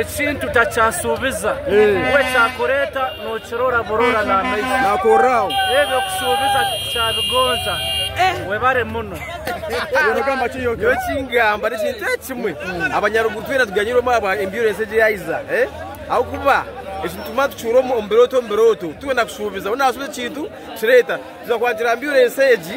Ekintu takyashuubiza, we kyakureeta nookirora burora n'amaiso. Naakorraho. Ebyo kushuubiza tikyabigonza. Webare muno. Iwe nogamba ki Yoki? Nyowe ekingamba n'ekintu eki kimwe, abanyaruguru twena tuganyirwemu ahabwa insurance egi yaahiza. Ahabw'okuba eki nitumanya tukicuura omu birooto omu birooto, twena kushuubiza. Weena naashuubiza ekintu, nikireeta. Twija kuhagira insurance egi.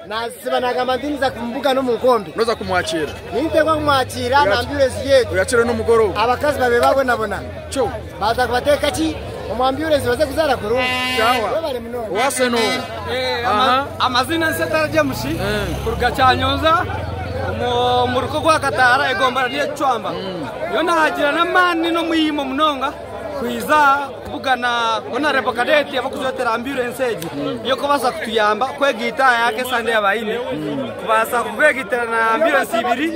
Naasiba naagamba nti niza kumubugana omu nkombe. Noza kumwakiira. Ninteekwa kumwakiira nambiura enju yetu. Oyakiire n'omugoroba. Abakazi babe babonabona. Kyo. Baza kubateeka ki? Omwambiura enju baze kuzaara kurungi. Kyawa. Webale munonga. Owase n'owe. Eh, Aha. Amazina nse tara James eh. kuruga Kyanyonza omu ruka gwa Kataara egombana ry'Ekicwamba. Niyo mm. nahagira n'amaani n'omuyimo munonga. Kwija kubugana Honarebo Kadeti abakujwetera amburensi egi niyo kubaasa kutuyamba kwega eitaaya ya kesande ya baine kubaasa kubeegitira na amburensi ibiri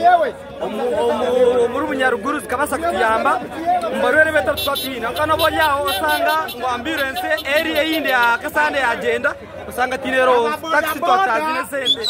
omuri bunyaruguru zikabaasa kutuyamba omu barwaire beitu abu tuba twine kandi oba ori aho osanga ngu amburensi eri eyindi ya kesande yagyenda osanga tiine roongo takisi twataaziine sente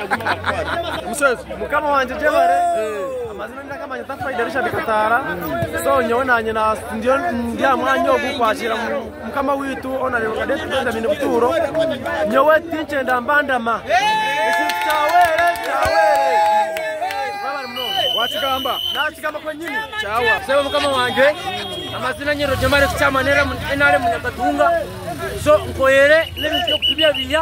mukama wangye gyebare amazina ndakamanya tafaida richard kataara so nyowe nanye ndi aha mwanya ogu kwakira mukama wiitu honorable cadet benjamin butuuro nyowe tinkyenda mbandama kyawere kyawere wakigamba nakigamba kwenyini kyawa sebo mukama wangye amazina nyero gyemare kucyamanira nrm nakatunga so nkoyere n'ebintu by'okutubyabiya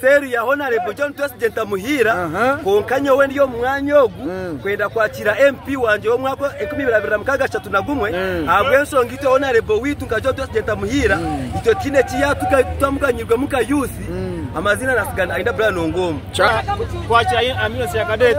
Seeri ya Honarebo John Twesigye Ntamuhiira kwonka nyowe ndi omu mwanya ogu kwenda kwakiira MP wangye w'omwaka enkumi ibiri abiri na mukaaga ashatu na gumwe ahabw'enshonga itwe Honarebo waitu nka John Twesigye Ntamuhiira itwe tihaine eki yatutwamuganyiirwemu nka yuusi amaziina natsigana Aidah Brian Ongom. Twakira Amnesty ya Cadet.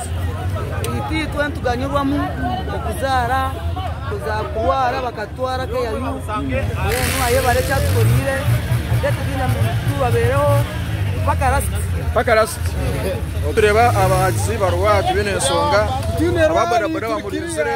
Itwe nituganyirwamu okuzaara, kurwara bakatutwara keyayu mbwenu ayebare eki atukoreire tubabeereho mpaka lasiti. Mpaka lasiti. Tureba abahagizi barwaati baine ensonga aba bodaboda bamurinzire.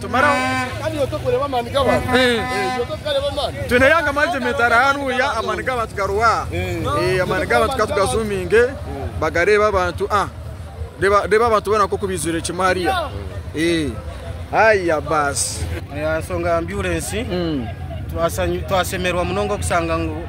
tumaraho kandi iwe tokureeba amaani g'abantu iwe tokureeba amaani twine yanga management ari hanuya amaani g'abantu garuwa amaani g'abantu katugazuminge bagareeba abantu ah reeba abantu boona nk'oku baijwire kimwe hariya haya baasi ensonga ya amburensi twasemerwa munonga okusanga ngu